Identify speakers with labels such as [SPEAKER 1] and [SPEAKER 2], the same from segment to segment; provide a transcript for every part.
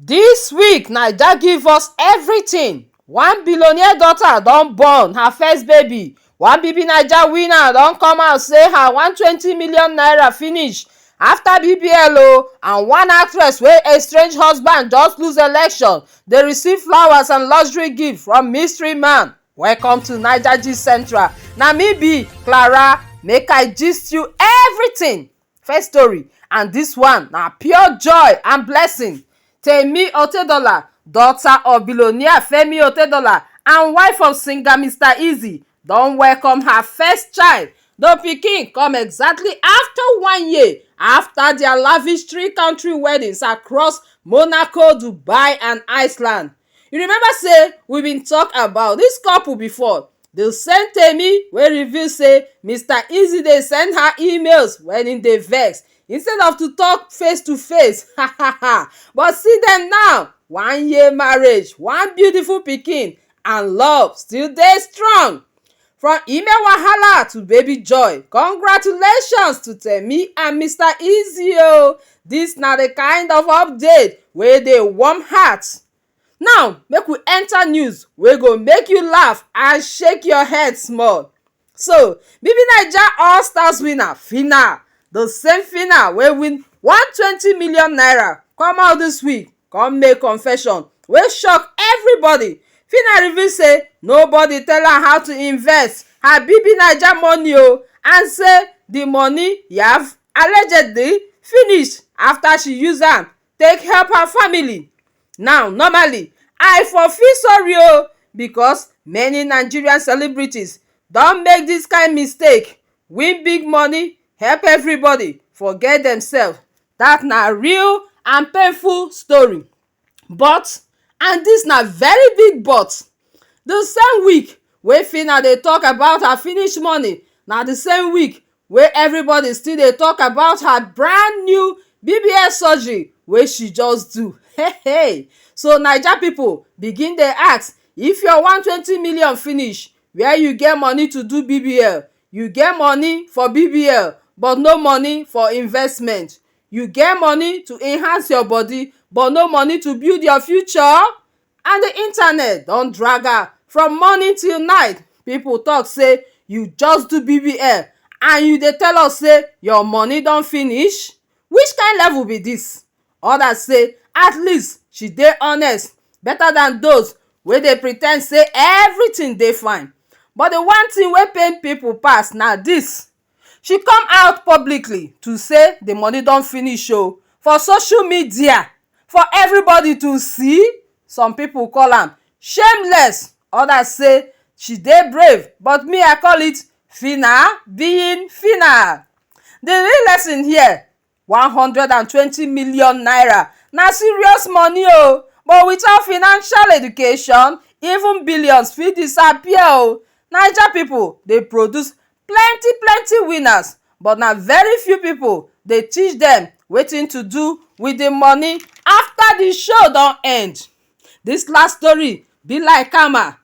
[SPEAKER 1] Dis week naija give us everything, one billionaire daughter don born her first baby, one BBNaija winner don come out say her one twenty million naira finish after BBL o and one actress wey estrange husband just lose election dey receive flowers and luxury gift from mystery man. Welcome to Naija Gist Central, na me be Clara make I gist you everything First story and this one na pure joy and blessing Temi Otedola daughter of billionaire Femi Otedola and wife of singer Mister Eazy don welcome her first child The pikin come exactly after one year after their lavish three country weddings across Monaco, Dubai and Iceland You remember say we been talk about this couple before the same Temi wey reveal say Mr. Easy dey send her emails when he dey vex instead of to talk face to face ha ha ha but see them now one year marriage one beautiful pikin and love still dey strong. From Ime Wahala to Baby Joy, congratulations to Temi and Mr. Easy o! Dis na the kind of update wey dey warm heart. Now make we enter news wey go make you laugh and shake your head small. So Bibi Naija all stars winner Phyna, the same Phyna wey win one twenty million naira come out dis week come make confession wey shock everybody Phyna reveal say nobody tell am how to invest her BBNaija money o and say the money yaf allegedly finish after she use am take help her family now normally I for feel sorry o because many Nigerian celebrities don make this kind mistake win big money help everybody forget themselves That na real and painful story but and this na very big but the same week wey Phyna dey talk about her finish money na the same week wey everybody still dey talk about her brand new BBS surgery wey she just do hey hey so naija people begin dey ask if your one twenty million finish where you get money to do BBL You get money for BBL but no money for investment You get money to enhance your body but no money to build your future And the internet don drag am from morning till night People talk say you just do BBL and you dey tell us say your money don finish Which kind level be this? others say at least she dey honest better than those wey dey pre ten d say everything dey fine but the one thing wey pain people pass na this she come out publicly to say the money don finish o for social media for everybody to see some people call am shameless others say she dey brave but me I call it phyna being phyna the real lesson here one hundred and twenty million naira na serious money o but without financial education even billions fit disappear o naija people dey produce plenty plenty winners but na very few people dey teach dem wetin to do with the money after the show don end this last story be like ama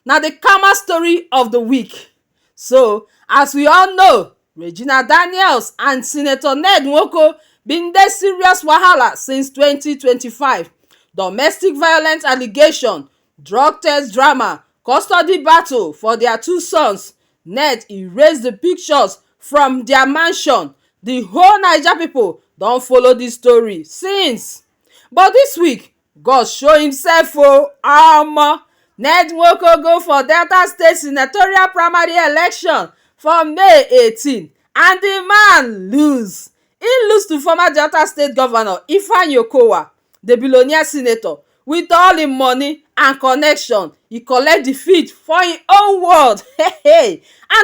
[SPEAKER 1] na the karma story of the week so as we all know Regina Daniels and Senator Ned Nwoko bin dey serious wahala since twenty twenty five domestic violence allegation, drug test drama, custody battle for their two sons Ned erase the pictures from their mansion the whole naija people don follow this story since but this week God show himself o omo! Ned Nwoko go for Delta State senatorial primary election for May eighteen and di man lose. He lose to former Delta State governor Ifeanyi Okowa, di billionaire senator with all im money and connection, he collect defeat for im own ward and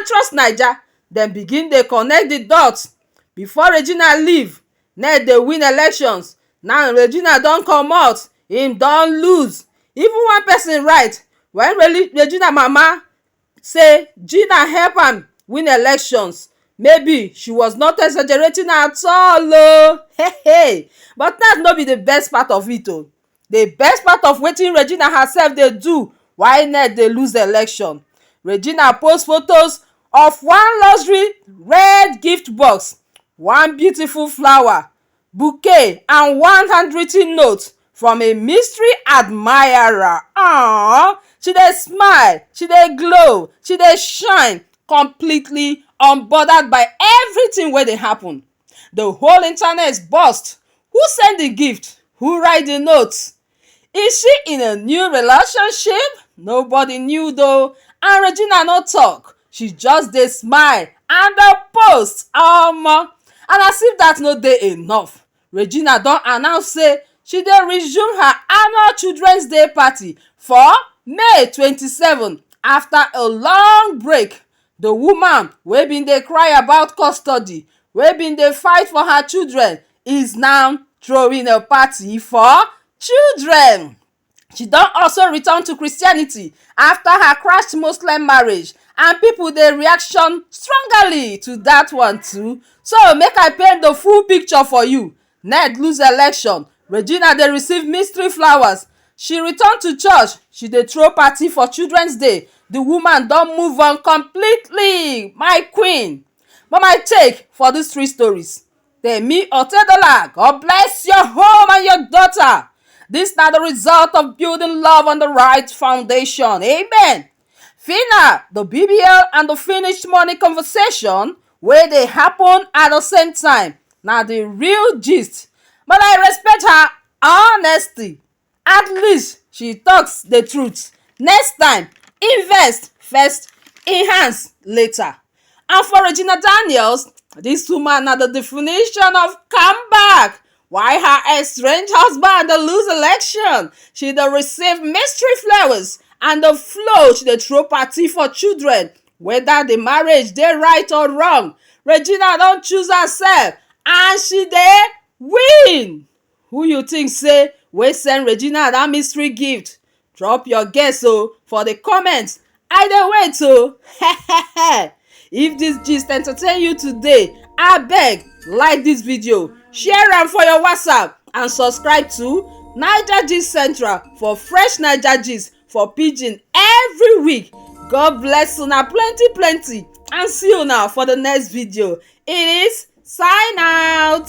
[SPEAKER 1] Trust Naija dem begin dey connect di dots before Regina leave ned dey win elections now regina don comot e don loose even one person write when regina mama say gina help am win elections maybe she was not exaggerating at all o hey hey but dat no be the best part of it o The best part of wetin Regina herself dey do why INEC dey lose election. Regina post photos of one luxury red gift box, one beautiful flower, bouquet and one handwritten note from a mystery admirer. Aww, she dey smile, she dey glow, she dey shine completely unbothered by everything wey dey happen. The whole internet burst. Who send the gift? Who write the note? Is she in a new relationship? Nobody knew though, and Regina no talk. She just dey smile and dey post. Omo! Um, and as if that no dey enough, Regina don announce say she dey resume her annual Children's Day party for May 27 after a long break The woman wey been dey cry about custody wey been dey fight for her children is now throwing a party for children She don also return to Christianity after her crashed Muslim marriage and people dey reaction strongly to that one too. So make I paint the full picture for you. Ned lose election, Regina dey receive mystery flowers, She return to church, she dey throw party for children's day, The woman don move on completely, my queen But my take for these three stories Temi Otedola, God bless your home and your daughter This na the result of building love on the right foundation, amen Fina, the BBL and the finished money conversation wey dey happen at the same time na the real gist but I respect her honesty at least she talk the truth next time invest first enhance later and for regina daniels dis woman na the definition of comeback why her estranged husband dey lose election she dey receive mystery flowers and the flow she dey throw party for children whether the marriage dey right or wrong regina don choose herself and she dey win Who you think say wey send Regina that mystery gift? Drop your guess o for the comment. I dey wait o. If this gist entertain you today, abeg like this video, share am for your WhatsApp and subscribe to Naija Gist Central for fresh Naija gist for pidgin every week. God bless una plenty plenty and see una for the next video. It is sign out.